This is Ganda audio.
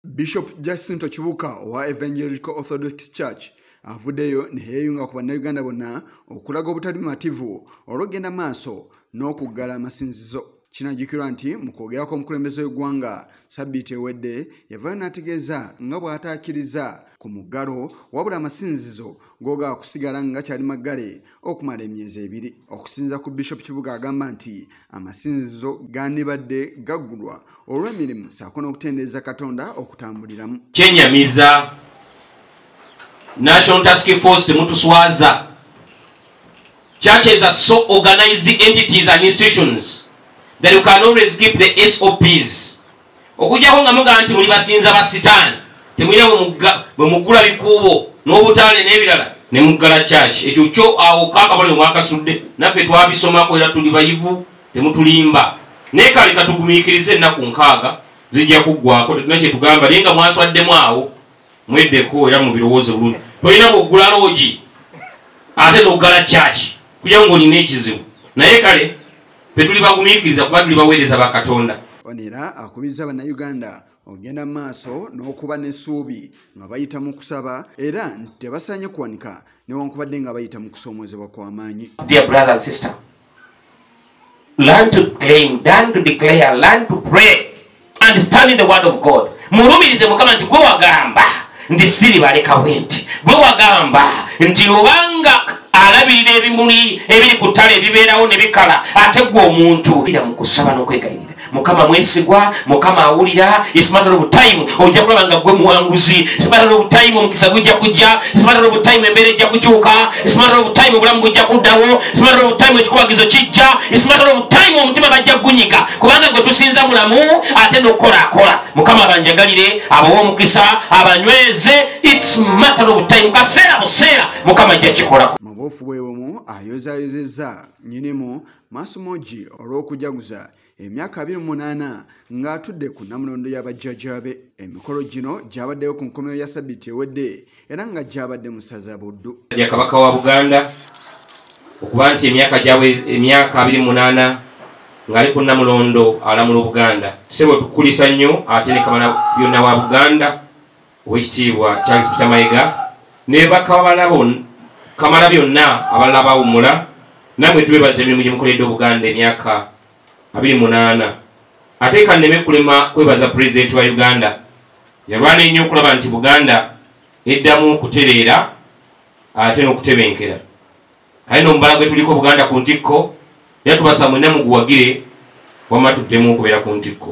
bishop jacinto kibuka owa evangelical orthodox church avuddeyo neyeeyunga ku bannayuganda bonna okulaga obutali mumativu olwokugenda maaso n'okuggala amasinzizo kinajjukirwa nti mu kwogerako omukulembeze w'eggwanga sabbiiti ewedde yavayo n'ategeeza nga bw'ataakiriza ku muggalo wabula amasinzizo googakusigala nga kyali maggale okumala emyezi ebiri okusinza ku bishop kibuga agamba nti amasinzizo gandibadde gaggulwa olw'emirimu saako n'okutendereza katonda okutambuliramu kyenyamiza national task force temutuswaza churches are so organized entities and institutions that you can always keep the sops okujjako nga mugamba nti muli basinza ba sitaani temulina bwe mugula bikuubo n'obutaane n'ebirala ne muggala kyaki ekyo kyo awo kakabale mwakasudde naffe twabisomako era tuli bayivu temutulimba naye kale katugumiikiriza ennaku nkaaga zijja kuggwako tetuna kyetugamba naye nga mwaswaddemu awo mweddeko era mubirowooze bulungi tolina bwoggula loogi ate noggala kyaki kuja ngaolina ekizibu naye kale ffe tuli bagumiikiriza kuba tuli baweereza ba katonda ono era akubiriza bannayuganda okugenda mu maaso n'okuba n'essuubi nga bayita mu kusaba era nti tebasaanye kuwanika newankubadde nga bayita mu kusoomoozebwa kw'amaanyi understanding the word of god mulumirize mukama nti gwe wagamba nti siribaleka bwe nti gwe wagamba nti lubanga alabirira ebimuli ebiri ku ttale ebibeerawo ne bikala ate gwe omuntu ira mu kusaba n'okwegayirira mukama mwesigwa mukama awulira ismatter of time ojja kulaba nga gwe muwanguzi ismatter of time omukisa gujja kujja ismatter of time embeera ejja kukyuka It's a matter of time obulamu bujja kuddawo It's a matter of time ekikubagizo kijja It's a matter of time omutima bajja kugunyika kubanga gwe tusinza mulamu ate nokukola akola mukama abanjagalire abawa omukisa abanyweze It's a matter of time kaseera buseera mukama ajja kikola mubuufu bwe bumu ayozayozezza nyinimu masomogi olw'okujaguza emyaka 28 ng'atudde ku namulondo y'abajjajaabe emikolo gino gyabaddeyo ku nkomero ya sabiiti ewedde era nga gyabadde mu saza buddu ya kabaka wa buganda okuba nti emyaka gyabwe emyaka 28 ng'ali ku namulondo alamula obuganda sebo tukulisa nnyo ate ne kabala byonna wa buganda Owekitiibwa Charles Peter Mayega ne bakawala bonna kamala byonna abalala bawumula namwe tubebaza emirimu gye mukoledde obuganda emyaka abiri munaana ate kanneme kulema kwebaza pulezidenti wa uganda yalwana ennyo okulaba nti buganda eddamu okutereera ate n'okutebenkera aye nomubala gwe tuliko buganda ku ntikko era tubasa mwena muguwagire wamma tuddemu okubeera ku ntikko